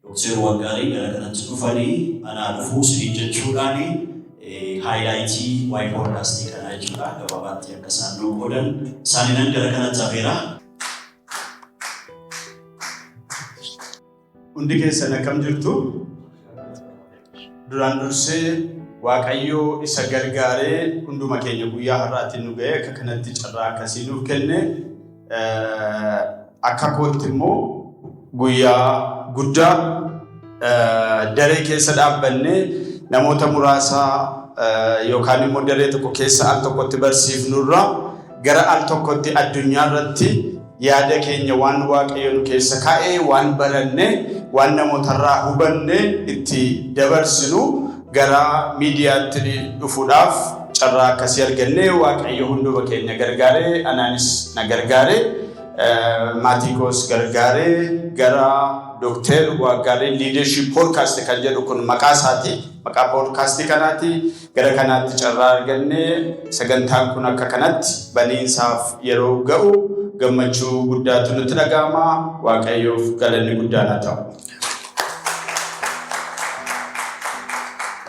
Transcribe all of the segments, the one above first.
Doktar Wangaarii gara kanatti dhufanii anaa dhufuu isiniin jechuudhaan haayilaayitii waa'ee poodkaastii kanaa jechuudha gabaabaatti akka isaan nuu qoodan isaaniinan gara kanatti hafeera. Hundi keessan akkam jirtu? Duraan dursee Waaqayyoo isa gargaaree hunduma keenya guyyaa har'aatti nu ga'ee akka kanatti carraa akkasii nuuf kenne akka kootti immoo guyyaa guddaa daree keessa dhaabbannee namoota muraasaa yookaan immoo daree tokko keessa al tokkotti barsiifnurraa Gara al tokkotti addunyaa irratti yaada keenya waan Waaqayyo nu keessa kaa'e, waan baranne, waan namootarraa hubanne itti dabarsinu gara miidiyaatti dhufuudhaaf carraa akkasii arganne Waaqayyo hunduma keenya gargaare, anaanis na gargaare, maatii koos gargaare gara Dookter Waaggaarii Leadership Podcast kan jedhu kun maqaa isaati. Maqaa podcast kanaati. Gara kanaatti carraa arganne sagantaan kun akka kanatti baniinsaaf yeroo ga'u gammachuu guddaatu nutti dhaga'ama. Waaqayyoof galanni guddaan haa ta'u.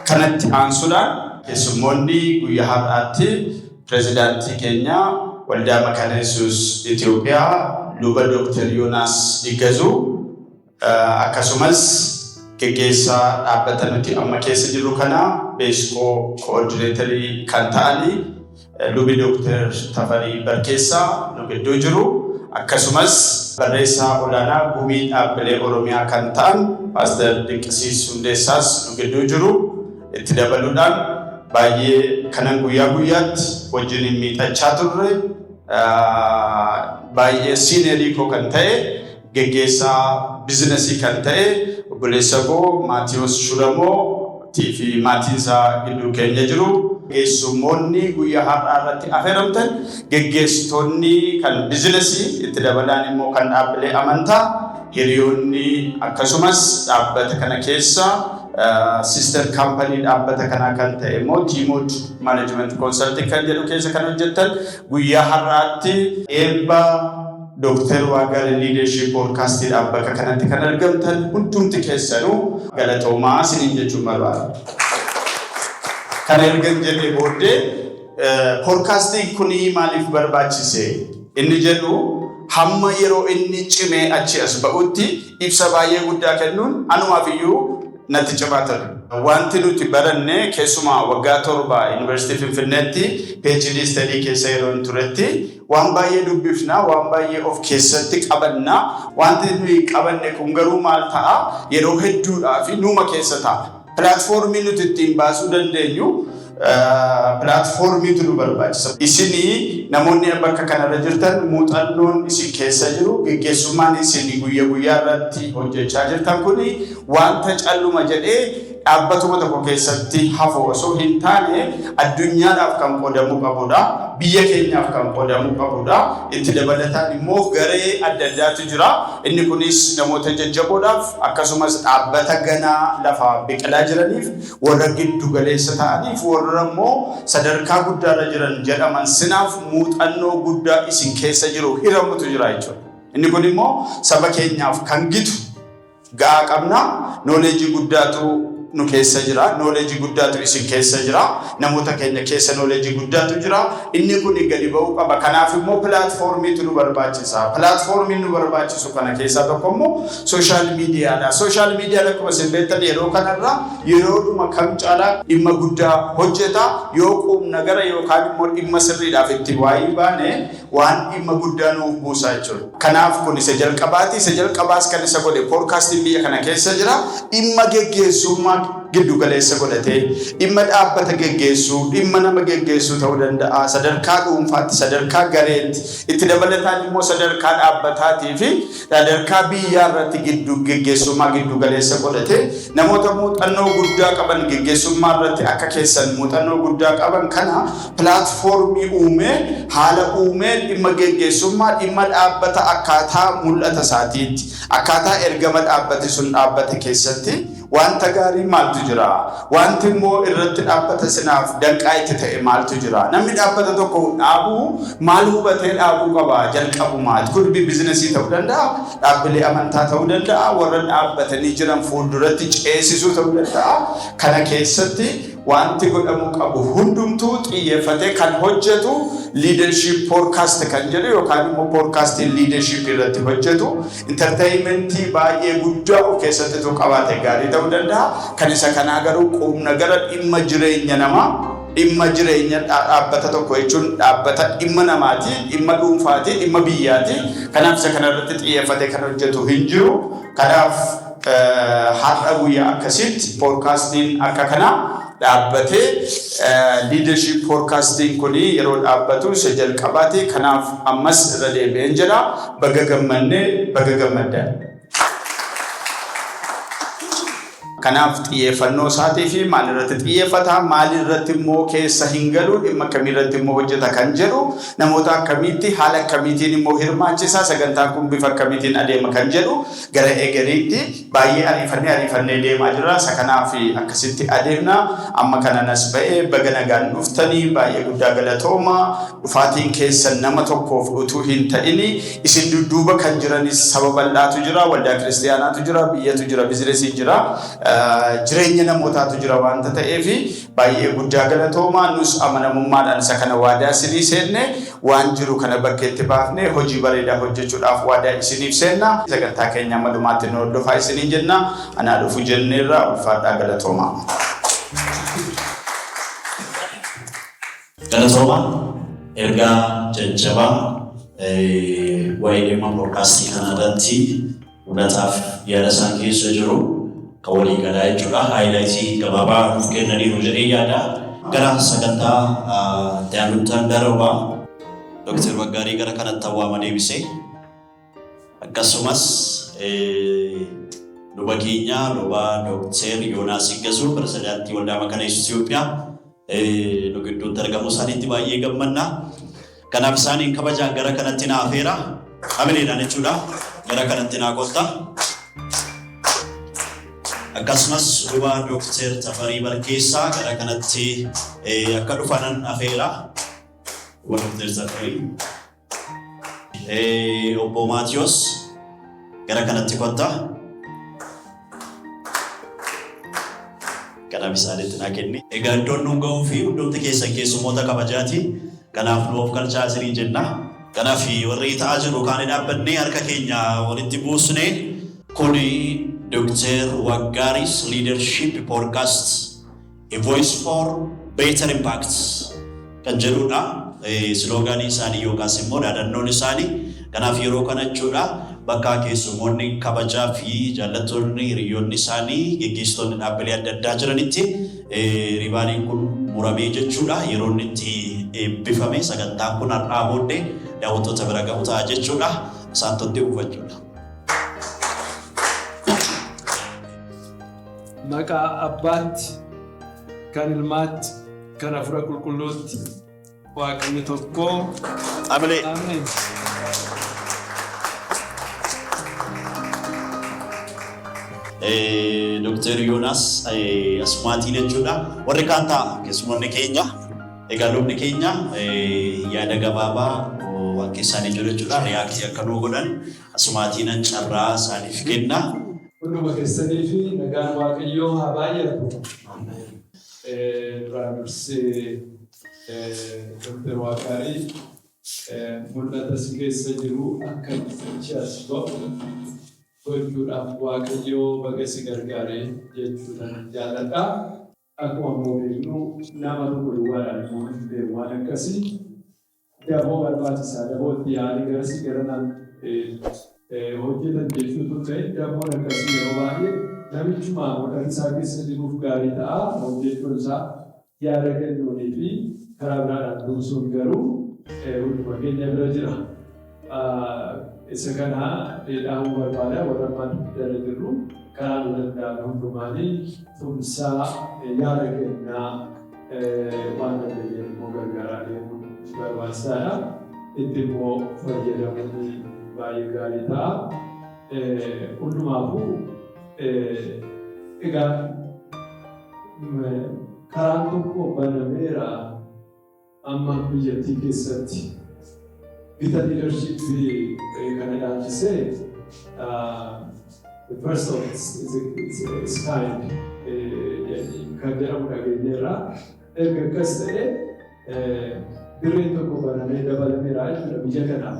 Kanatti aansuudhaan keessummoonni guyyaa har'aatti pirezidaantii keenya waldaa makaana yesuus Itoophiyaa luba Dooktar Yoonaas Iggazuu Akkasumas geggeessaa dhaabbata nuti amma keessa jirru kana beeskoo koordineetarii kan ta'anii lubi Dooktar Tafarii Barkeessaa nu gidduu jiru. Akkasumas barreessaa olaanaa gumii dhaabbilee Oromiyaa kan ta'an Paaster Dinqisiis Hundeessaas nu gidduu jiru. Itti dabaluudhaan baay'ee kanan guyyaa guyyaatti wajjin hin miixachaa turre baay'ee siineerii koo kan ta'e Geggeessaa bizinasii kan ta'e obboleessa koo Maatiwoos Shulamoo tii fi maatiin isaa gidduu keenya jiru. Keessummoonni guyyaa har'aa irratti afeeramtan geggeessitoonni kan bizinasii itti dabalaan immoo kan dhaabbilee amantaa hiriyoonni akkasumas dhaabbata kana keessa sister kaampanii dhaabbata kanaa kan ta'e immoo Tiimood Management Consulting kan jedhu keessa kan hojjettan guyyaa har'aatti eebba Dooktar Waagaan Liidershiip Poodkaastiidhaaf bakka kanatti kan argamtan hundumti keessanuu galatoomaa isiniin jechuun barbaada. Kan ergan jedhee booddee poodkaastiin kun maaliif barbaachise inni jedhu hamma yeroo inni cimee achi as ba'utti ibsa baay'ee guddaa kennuun anumaaf iyyuu natti cimaa ture. Wanti nuti baranne keessumaa waggaa torba Yuunivarsiitii Finfinneetti PhD study keessa yeroo hin turetti Waan baay'ee dubbifna, waan baay'ee of keessatti qabanna. Wanti nuyi qabanne kun garuu maal ta'a? Yeroo hedduudhaaf nuuma keessa ta'a. Pilaatfoormii nuti ittiin baasuu dandeenyu pilaatfoormiitu nu barbaachisa. Isin namoonni bakka kanarra jirtan muuxannoon isin keessa jiru geggeessummaan isin guyya guyyaa irratti hojjechaa jirtan kun wanta calluma jedhee dhaabbatuma tokko keessatti hafu osoo hin taane addunyaadhaaf kan qoodamuu qabudha. Biyya keenyaaf kan qoodamuu qabudha. Itti dabalataan immoo garee adda addaatu jira. Inni kunis namoota jajjaboodhaaf akkasumas dhaabbata ganaa lafaa biqilaa jiraniif warra giddu galeessa ta'aniif warra immoo sadarkaa guddaarra jiran jedhaman sinaaf muuxannoo guddaa isin keessa jiru hiramutu jira jechuudha. Inni kun immoo saba keenyaaf kan gitu gahaa qabna. Knowledge guddaatu nu keessa jira. Knowledge guddaatu isin keessa jira. Namoota keenya keessa knowledge guddaatu jira. Inni kun gadi ba'uu qaba. Kanaaf immoo pilaatfoormiitu nu barbaachisa. Pilaatfoormiin nu barbaachisu kana keessaa tokko immoo sooshaal miidiyaadha. Sooshaal miidiyaan akkuma isin beektan yeroo kanarra yeroodhuma kam caalaa dhimma guddaa hojjeta. Yoo quumna gara yookaan immoo dhimma sirriidhaaf itti waayii baane waan dhimma guddaa nuuf buusaa jechuudha. Kanaaf kun isa jalqabaati. Isa jalqabaas kan isa godhe poodkaastiin biyya kana keessa jira. Dhimma geggeessummaa giddu galeessa godhatee dhimma dhaabbata geggeessuu, dhimma nama geggeessuu ta'uu danda'a. Sadarkaa dhuunfaatti, sadarkaa gareetti, itti dabalataan immoo sadarkaa dhaabbataatii fi Sadarkaa biyyaa irratti giddu geggeessummaa giddu galeessa godhate namoota muuxannoo guddaa qaban geggeessummaa irratti akka keessan muuxannoo guddaa qaban kana pilaatfoormii uumee haala uumee dhimma geggeessummaa dhimma dhaabbata akkaataa mul'ata isaatiitti akkaataa ergama dhaabbati sun dhaabbate keessatti Wanta gaarii maaltu jira? Wanti immoo irratti dhaabbata sinaaf danqaa itti ta'e maaltu jira? Namni dhaabbata tokko dhaabu maal hubatee dhaabuu qaba? Jalqabumaati. Kun biizinasii ta'uu danda'a, dhaabbilee amantaa ta'uu danda'a, warra dhaabbatanii jiran fuulduratti ceesisuu ta'uu danda'a. Kana keessatti wanti godhamuu qabu hundumtuu xiyyeeffatee kan hojjetu liidarshiip poorkaast kan jedhu yookaan immoo poorkaastiin liidarshiipii irratti hojjetu Intarteeyimentii baay'ee guddaa of keessatti utuu qabaate gaarii ta'uu danda'a. Kan isa kanaa garuu quumnagara dhimma jireenya namaa, dhimma jireenya dha- dhaabbata tokko jechuun dhaabbata dhimma namaati, dhimma dhuunfaati, dhimma biyyaati. Kanaaf isa kana irratti xiyyeeffatee kan hojjetu hin jiru. Kanaaf Har'a guyyaa akkasiitti poodkaastiin akka kanaa dhaabbatee liidarship poodkaastiin kun yeroo dhaabbatu isa jalqabaati. Kanaaf ammas irra deebi'een jedha baga gammannee baga gammaddan. Kanaaf xiyyeeffannoo isaatii fi maal irratti xiyyeeffata maal irratti immoo keessa hin galu dhimma akkamii irratti immoo hojjeta kan jedhu namoota akkamiitti haala akkamiitiin immoo hirmaachisa sagantaan kun bifa akkamiitiin adeema kan jedhu Gara egeriitti baay'ee ariifannee ariifannee deemaa jirra. Isa kanaaf akkasitti adeemna. Amma kanan as ba'e baga nagaan dhuftanii baay'ee guddaa galatooma. Dhufaatiin keessan nama tokkoof utuu hin ta'ini isin dudduuba kan jiranis saba bal'aatu jira, waldaa kiristiyaanaatu jira, biyyatu jira, bizinesiin jira, jireenya namootaatu jira waanta ta'eef baay'ee guddaa galatooma. Nus amanamummaadhaan isa kana waadaa isinii seenne. Waan jiru kana bakkeetti baafnee hojii bareedaa hojjechuudhaaf waadaa isiniif seenna. Sagantaa keenya amma dhumaatti nu hordofaa isiniin jenna. Anaa dhufu jenneerra. Ulfaadhaa galatoomaa. Galatooma ergaa jajjabaa waa'ee dhimma poodkaastii kana irratti Hunataaf yaada isaan keessa jiru kan walii galaa jechuudha. Haayilaayitii gabaabaa nuuf kennaniiru jedhee yaada. Gara sagantaa daanuttan darba. Dooktar Baggaarii gara kanatti awwaama deebisee akkasumas luba keenya luba Dooktar Yoonaas Iggasuu pirezidaantii Waldaa Makana Yesuus Itoophiyaa nu gidduutti argamuu isaaniitti baay'ee gammanna. Kanaaf isaaniin kabajaan gara kanatti na afeera. Hamileedhaan jechuudha. Gara kanatti naa gotta. Akkasumas duuba Dooktar Tafarii Barkeessaa gara kanatti akka dhufanan afeera. Duuba Dooktar Tafarii. Eh, Obbo Maatiyos gara kanatti kotta. Kanaaf isaanitti naa kenni. Egaa iddoon nuun ga'uu fi hundumti keessan keessummoota kabajaati. Kanaaf nu of galchaa isiniin jenna. Kanaaf warri ta'aa jiru kaan dhaabbannee harka keenya walitti buusne. Kuni Dr. Waggaaris Leadership Podcast A Voice for Better Impact kan jedhudha. Siloogaanii isaanii yookaas immoo dhaadannoon isaanii kanaaf yeroo kana jechuudha. Bakka keessummoonni kabajaa fi jaallattoonni hiriyoonni isaanii geggeessitoonni dhaabbilee adda addaa jiranitti riibaaniin kun muramee jechuudha. Yeroo inni itti eebbifame sagantaan kun har'aa booddee daawwattoota bira ga'u ta'a jechuudha. Isaan tottee buufachuudha. Maqaa Abbaatti, kan Ilmaatti, kan Hafuura Qulqulluutti Waaqni tokko. Amilee. Ameen. Eh, Dr. Yoonaas eh, asumaatii jechuudha. Warri kaan ta'a keessummoonni keenya. Egaa lubni keenya eh, yaada gabaabaa oh, waan keessaanii jiru jechuudha. Riyaaktii akka nuu godhan asumaatiin carraa isaaniif kenna. Hunduma keessaniifi nagaan Waaqayyoo haa baay'atu. Duraan dursee Dr. Waaqaarii mul'ata si keessa jiru akka itti as ba'u gochuudhaaf Waaqayyoo baga si gargaare jechuudhaan jaalladha. Akkuma immoo beeknu nama tokko duwwaadhaan immoo hin beeku waan akkasi daboo barbaachisa daboo itti yaa'anii garasi garanaan hojjetan jechuu utuu hin ta'in daboon akkasii yeroo baay'ee namichuma mul'ati isaa keessa jiruuf gaarii ta'a hojjechuun isaa yaada kennuunii fi karaa biraadhaan tumsuun garuu hunduma keenya bira jira. Isa kana dhaamuu barbaada warra ammaa dugdara jirru karaa nu danda'ame hundumaanii tumsaa yaada kennaa waan dandeenyeen immoo gargaaraa deemuun barbaachisaadha. Itti immoo fayyadamuun baay'ee gaarii ta'a. Hundumaafuu egaa karaan tokko banameera. Amma biyyattii keessatti gita liidarshiippii ta'e kana ilaalchisee the first of its, its, its kind kan jedhamu dhageenyeerra. Erga akkas ta'e dirreen tokko banamee dabalameera jechuudha biyya kanaaf.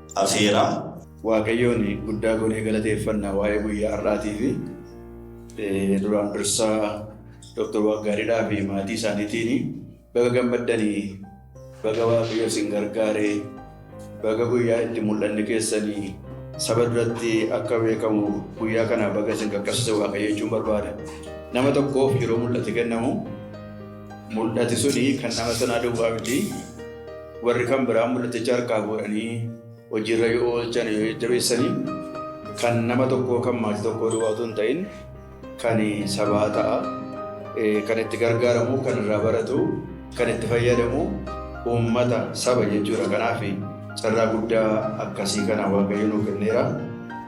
afeera. Waaqayyoon guddaa goonee galateeffanna waa'ee guyyaa har'aatiifi duraan dursaa Dr. Waaqgaariidhaa fi maatii isaaniitiin baga gammaddanii baga Waaqayyo isin gargaaree baga guyyaa itti mul'anni keessanii saba duratti akka beekamu guyyaa kana baga isin qaqqabsiise Waaqayyo jechuun barbaada. Nama tokkoof yeroo mul'ati kennamu Mul'ati suni kan nama sanaa duwwaa miti. Warri kan biraa mul'aticha harkaa fuudhanii hojiirra yoo oolchan yoo jajjabeessanii kan nama tokkoo kan maatii tokkoo duwwaa utuu hin ta'in kan sabaa ta'a. Kan itti gargaaramu, kan irraa baratu, kan itti fayyadamu uummata saba jechuudha. Kanaaf carraa guddaa akkasii kana Waaqayyo nuu kenneera.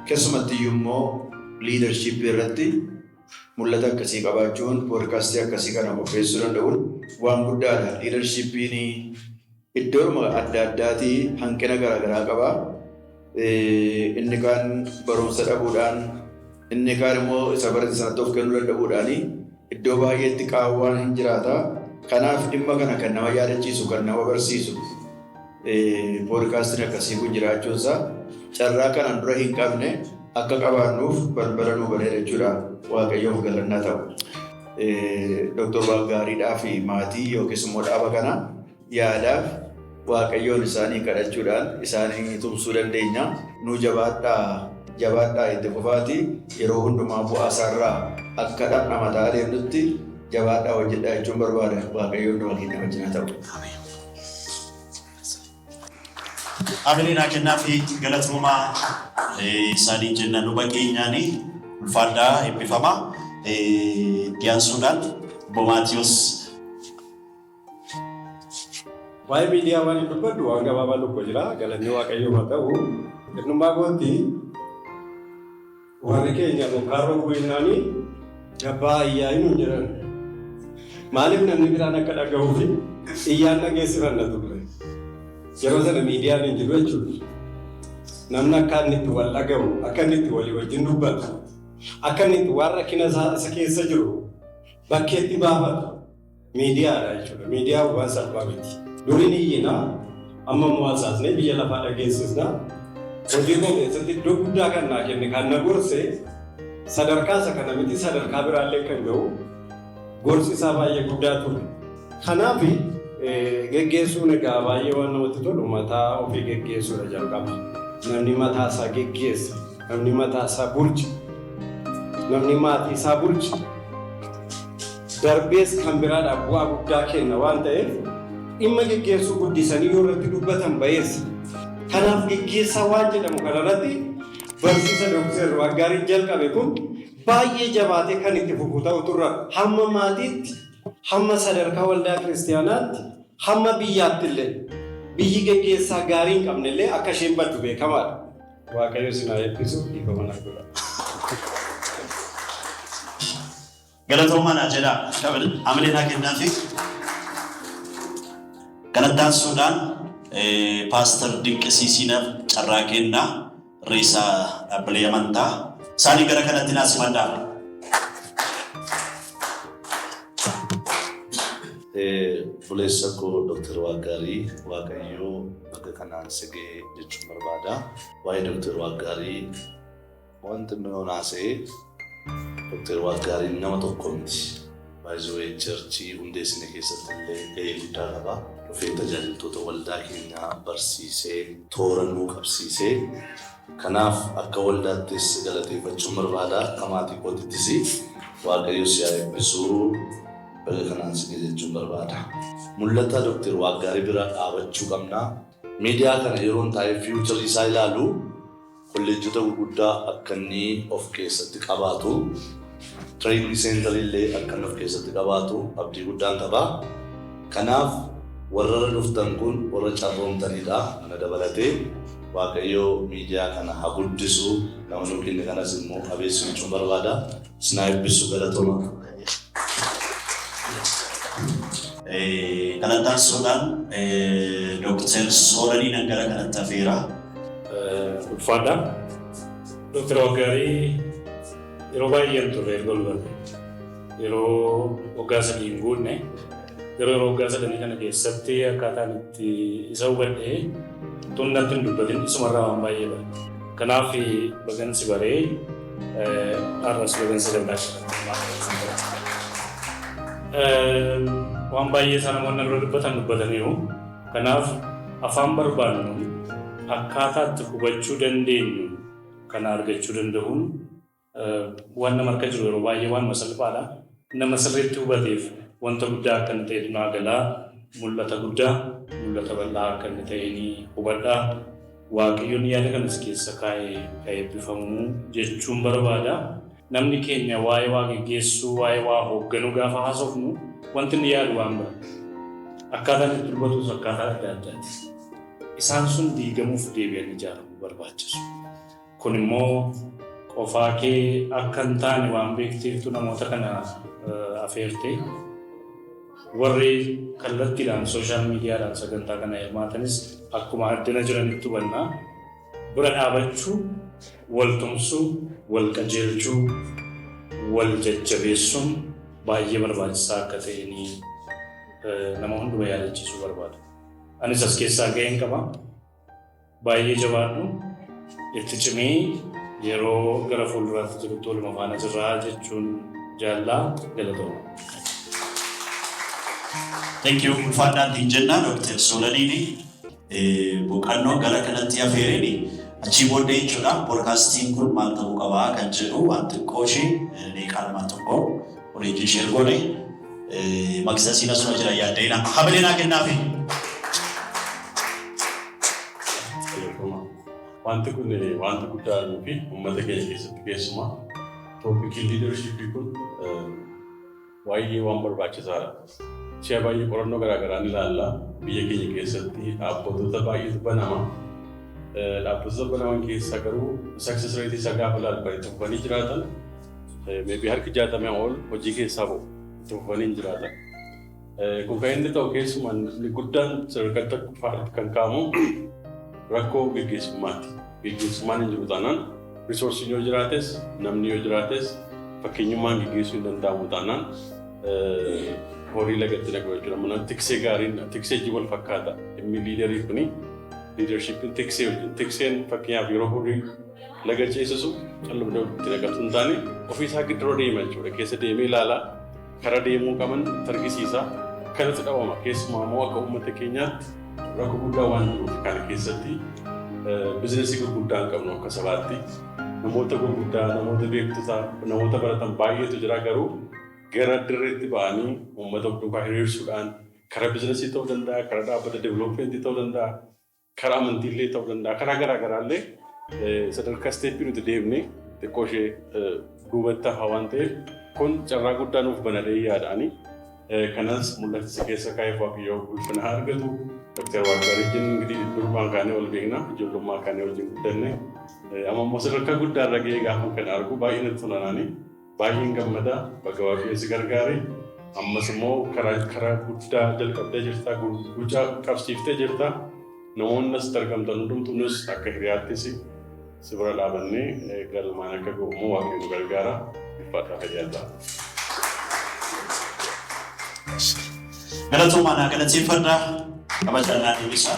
Keessumattiyyuu immoo liidarshiippii irratti Mul'ata akkasii qabaachuun podcast akkasii kana qopheessuu danda'uun waan guddaadha. Leadership'n iddoodhuma adda addaatii hanqina garaagaraa qaba. Inni kaan barumsa dhabuudhaan, inni kaan immoo isa barate sanatti of kennuu danda'uudhaan iddoo baay'eetti qaawwaan hin jiraata. Kanaaf dhimma kana kan nama yaadachiisu, kan nama barsiisu, Poodkaastiin akkasii kun jiraachuun isaa carraa kanaan dura hin qabne akka qabaannuuf balbala nuu baneera jechuudha. Waaqayyoof galannaa ta'u. Doktor Waaqgaariidhaa fi maatii yookiis immoo dhaaba kana yaadaaf Waaqayyoon isaanii kadhachuudhaan isaanii tumsuu dandeenya. Nuu jabaadhaa jabaadhaa itti fufaatii yeroo hundumaa bu'aa isaarraa akka dhamdhamataa adeemnutti jabaadhaa hojjedhaa jechuun barbaada. Waaqayyoon dhuma keenya wajjin haa ta'u. Amileen haa kennaa fi galatoomaa isaaniin jenna luba keenyaanii ulfaadhaa eebbifamaa dhiyaansuudhaan bomaatiyoos Waa'ee miidiyaa waan hin dubbadhu waan gabaabaa tokko jira galanni waaqayyoo haa ta'u. Innummaa kootti Warri keenya bokkaa roobuu jennaani jabbaa iyyaa'ii nuun jedhan. Maaliif namni biraan akka dhagahuufi iyyaan dhageessifanna turre. Yeroo sana miidiyaan hin jiru jechuudha. Namni akka inni itti wal dhagahu, akka inni itti walii wajjin dubbatu, akka inni itti waan rakkina isaa isa keessa jiru bakkeetti baafatu Miidiyaadha jechuudha. Miidiyaan waan salphaa miti. Durii ni iyyina, amma immoo hasaasnee biyya lafaa dhageessisna. Hojii koo keessatti iddoo guddaa kan naa kenne kan na gorse sadarkaa isa kana miti sadarkaa biraallee kan ga'u gorsi isaa baay'ee guddaa ture. Kanaaf geggeessuun egaa baay'ee waan namatti tolu mataa ofii geggeessuudha jalqaba. Namni mataa isaa geggeessa, namni mataa isaa bulcha, namni maatii isaa bulcha. darbees kan biraadhaaf bu'aa guddaa kenna waan ta'eef dhimma geggeessuu guddisanii yoo irratti dubbatan bayeessa. Kanaaf geggeessaa waan jedhamu kana irratti barsiisa Dooktar Waaqgaariin jalqabe kun baay'ee jabaatee kan itti fufu ta'utu irra hamma maatiitti, hamma sadarkaa waldaa kiristiyaanaatti, hamma biyyaatti illee biyyi geggeessaa gaarii hin qabne illee akka isheen baddu beekamaadha. Waaqayyo isin haa eebbisu dhiifama naaf godhaa. Galatoomaa naa jedhaa. Shabel hamilee naa kennaafi. Kanattaansuudhaan Paaster Dinqisiisiinaaf carraa kennaa reessa dhaabbilee amantaa isaanii gara kanatti naa simadhaa. Buleessa koo Dooktar Waaqgaarii Waaqayyoo bakka kanaan si ga'e jechuun barbaada. Waa'ee Dooktar Waaqgaarii Wanti Miroon haasa'e Dr. Waaqgaariin nama tokko miti. Baay'ee charchii hundeessine keessatti illee gahee guddaa qaba. Dhufee tajaajiltoota waldaa keenyaa barsiisee, toora nuu qabsiise. Kanaaf akka waldaattis galateeffachuun barbaada. Akka maatii kootittis Waaqayyo si haa eebbisu. Baga kanaan si ga'e jechuun barbaada. Mul'ata Dr. Waaqgaarii bira dhaabachuu qabna. Miidiyaa kana yeroon taa'ee fiiwucharii isaa ilaalu Kolleejjota guguddaa akka inni of keessatti qabaatu, Trade Center illee akka inni of keessatti qabaatu abdii guddaan qaba. Kanaaf warra irra dhuftan kun warra carroomtaniidha, ana dabalatee. Waaqayyo miidiyaa kana ha guddisu, nama nuu kenne kanas immoo ha beeksisu jechuun barbaada. Sinaa eebbisu galatoma. Galataan Soodaan Dooktar Sooranii nan gara kanatti hafeera. Ulfaadha. Dooktar Waggaarii yeroo baay'een turre erga wal barre. Yeroo waggaa sadii hin guunne Garuu yeroo waggaa sadanii kana keessatti akkaataan itti isa hubadhe tun natti hin dubbatin isumarraa waan baay'ee bara. Kanaaf bagan si baree har'as bagan si danda'aadha. Waan baay'ee isaa namoonni irra dubbatan dubbataniiru. Kanaaf afaan barbaadnu akkaataa itti hubachuu dandeenyu kana argachuu danda'uun Waan nama harka jiru yeroo baay'ee waanuma salphaadha. Nama sirriitti hubateef wanta guddaa akka inni ta'etu naa gala. Mul'ata guddaa, mul'ata bal'aa akka inni ta'e ni hubadha. Waaqayyoon yaada kana si keessa kaa'e ha eebbifamu jechuun barbaada. Namni keenya waa'ee waa geggeessuu, waa'ee waa hoogganuu gaafa haasofnu wanti inni yaadu waan bira. Akkaataan itti dubbatus akkaataa adda addaati. Isaan sun diigamuuf deebi'anii ijaaramuu barbaachisu. Kun immoo qofaa kee akka hin taane waan beekteeftu namoota kana afeerte. Warri kallattiidhaan sooshaal miidiyaadhaan sagantaa kana hirmaatanis akkuma addana jiranitti hubanna. Bira dhaabachuu, wal tumsuu, wal qajeelchuu, wal jajjabeessuun baay'ee barbaachisaa akka ta'e ni nama hunduma yaadachiisuu barbaada. Anis as keessaa ga'een qaba. Baay'ee jabaadhu. Itti cimii yeroo gara fuulduraatti jirutti waluma faana jirraa jechuun jaallaa galatooma. Thank you ulfaadhaan ittiin jennaa Dr. Soolaniini boqannoo gara kanatti hafeereni achii booddee jechuudha poodkaastiin kun maal ta'uu qabaa kan jedhu waan xiqqoo ishee deeqaa lamaa tokko Kun itti ishee ergooni maqsa siina suma jira yaadda'ina hamilee naa kennaafi. Wanti kun wanta guddaa arguu fi uummata keenya keessatti keessumaa tooppikiin liidarshiippii kun baay'ee waan barbaachisaadha. Si'a baay'ee qorannoo garaa garaa ni ilaalla. Biyya keenya keessatti dhaabbattoota baay'eetu banama. Dhaabbattoota banaman keessaa garuu success rate isaa gaafa ilaallu kan itti fufanii jiraatan maybe harki jaatamee ol hojii keessaa ba'u itti fufanii hin jiraatan. Kun kan inni ta'u keessumaa inni guddaan sadarkaa tokkoffaatti kan kaa'amu rakkoo gaggeessummaati. Geggeessummaan hin jiru taanaan, resource'n yoo jiraates, namni yoo jiraates, fakkeenyummaan geggeessuu hin danda'amu taanaan horii lagatti naqu jechuudha. Mana tiksee gaariin tiksee wajjin wal fakkaata. Dhimmi liidarii kuni liidarshiipiin tiksee wajjin. Tikseen fakkeenyaaf yeroo horii laga ceesisu calluma itti naqatu hin taane ofiisaa gidduu deema jechuudha. Keessa deemee ilaala. Kara deemuu qaban itti argisiisa. Kanatti dhabama. Keessumaa immoo akka uummata keenyaatti rakkoo guddaa waan jiruuf kana keessatti bizinesii gurguddaa hin qabnu akka sabaatti. Namoota gurguddaa, namoota beektota, namoota baratan baay'eetu jira garuu gara dirreetti ba'anii uummata of duukaa hiriirsuudhaan kara bizinesii ta'uu danda'a, kara dhaabbata developmentii ta'uu danda'a. Karaa amantii illee ta'uu danda'a. Karaa garaa garaa illee sadarkaa isteeppii nuti deemne xiqqoo ishee duubatti hafaa waan ta'eef kun carraa guddaa nuuf banadhee yaadaani. Kanas mul'ata si keessa kaa'eef waaqayyoo ulfina haa argatu. Doktar Waaqgaarii jennu ingirii durumaan kaanee wal beekna. Ijoollummaa kaanee wajjin guddanne. Amma immoo sadarkaa guddaa irra ga'ee gaafa kana argu baay'ee natti tolanaani. Baay'een gammada baga waaqayyo si gargaare ammas immoo karaa karaa guddaa jalqabdee jirta gucaa qabsiiftee jirta namoonni asitti argamtan hundumtu nus akka hiriyaatti si si bira dhaabannee eh, galmaan akka ga'u immoo waaqayyo nu gargaara ulfaataa fayyaa ta'a. Galatoomaa naa galateeffadha. Kabajaan naa deebisaa.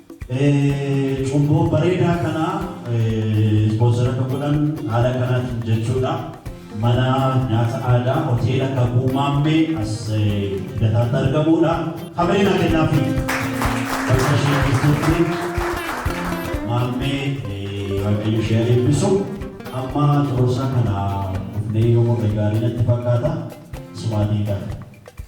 Cumboo bareedaa kana sponsor akka godhan haala kanaatiin jechuudha. Mana nyaata aadaa hoteela Kakuu Maammee as Lidataatti argamuudha. Hamilee naa kennaafi bakka ishee jirtutti Maammee Waaqayyo ishee haa eebbisu. Amma Cororsaa kana dhufnee yoo morre gaarii natti fakkaata. Sumaatiin kana.